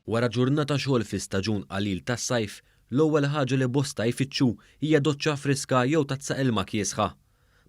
Wara ġurnata xogħol fi staġun qalil tas-sajf, l-ewwel ħaġa li bosta jfittxu hija doċċa friska jew tazza ilma kiesħa.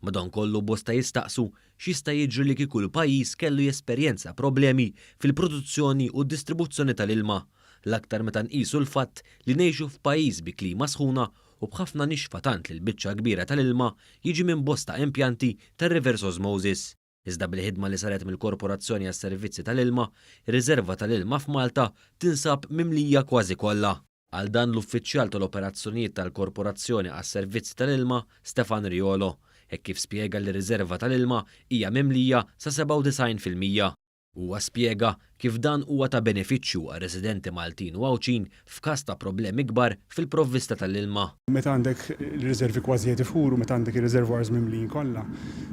Madankollu bosta jistaqsu x'jista' jiġri li kieku l-pajjiż kellu jesperjenza problemi fil-produzzjoni u d-distribuzzjoni tal-ilma, l-aktar meta nqisu l-fatt li ngħixu f'pajjiż bi klima sħuna u b'ħafna nixfa tant li l-biċċa l-kbira tal-ilma jiġi minn bosta impjanti tar-reverse osmosis. iżda bil-ħidma li saret mill-Korporazzjoni għas-Servizzi tal-Ilma, ir-riżerva tal-ilma f'Malta tinsab mimlija kważi kollha. Qal dan l-Uffiċjal tal-Operazzjonijiet tal-Korporazzjoni għas-Servizzi tal-Ilma, Stefan Riolo, hekk kif spjega li r-riżerva tal-ilma hija mimlija sa 97 fil-mija. Huwa spjega kif dan huwa ta' benefiċċju għar-residenti Maltin u Għawdxin f'każ ta' problemi kbar fil-provvista tal-ilma. Meta għandek ir-riżervi kważi qed ifuru, meta għandek ir-reservoirs mimlijin kollha,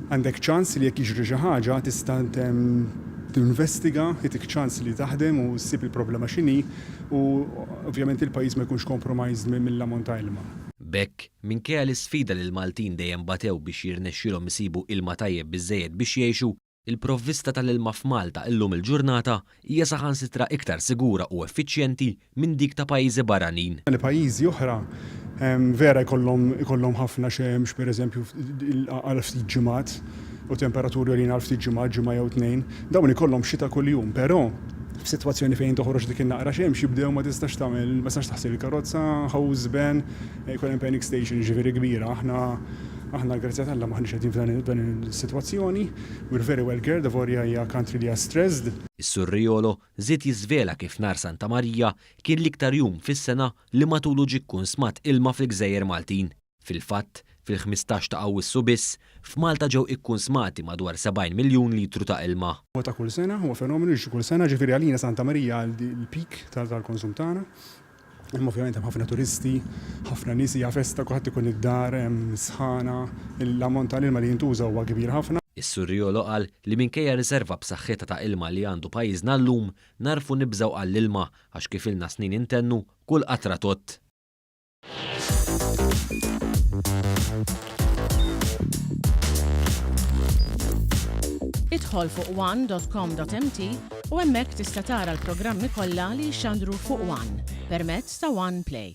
għandek ċans li jekk jiġri xi ħaġa tista' tinvestiga, jagħtik ċans li taħdem u ssib il-problema x'inhi u ovvjament il-pajjiż ma jkunx compromised mill-ammont ta' ilma. B'hekk, minkejja l-isfida li l-Maltin dejjem batew biex jirnexxielhom isibu ilma tajjeb biżżejjed biex jgħixu, Il-provvista tal-ilma f'Malta illum il-ġurnata hija saħansitra iktar sigura u effiċjenti minn dik ta' pajjiżi barranin. Li pajjiżi oħra vera jkollhom jkollhom ħafna xemx, pereżempju, għal ftit ġimgħat u temperaturi għoljin għal ftit ġimgħat, ġimgħa jew tnejn, dawn ikollhom xita kuljum. Però, f'sitwazzjoni fejn toħroġ dik in-naqra xemx jibdew ma tistax tagħmel, ma tistax taħsel il-karozza, ħawżben, Jkun hemm panic station jiġifieri kbira. Aħna aħna l-grazzja t'Alla m'aħniex qegħdin f'dan is-sitwazzjoni. We're very well geared, avolja hija country li hija stressed. Is-Surreolo żied jiżvela kif nhar Santa Marija kien l-iktar jum fis-sena li matulu ġie kkunsmat ilma fil-gżejjer Maltin. Fil-fatt, fil-ħmistax ta' Awwissu biss, f'Malta ġew ikkunsmati madwar 70 miljun litru ta' ilma. Huwa ta' kull sena, huwa fenomenu li jiġi kull sena, ġifieri għalina Santa Marija l-peak tal-konsum tagħna. Imma ovvjament hemm ħafna turisti, ħafna nies, hija festa, kulħadd ikun id-dar, hemm sħana, l-ammont ta' l-ilma li jintuża huwa kbir ħafna. Is-Surriolo qal li minkejja riserva b'saħħitha ta' ilma li għandu pajjiżna llum, nagħrfu nibżgħu għall-ilma għax kif ilna snin intennu, kull qatra tgħodd. Idħol fuq one dot com dot mt U hemmhekk tista' tara l-programmi kollha li jixxandru fuq one permezz ta' one play.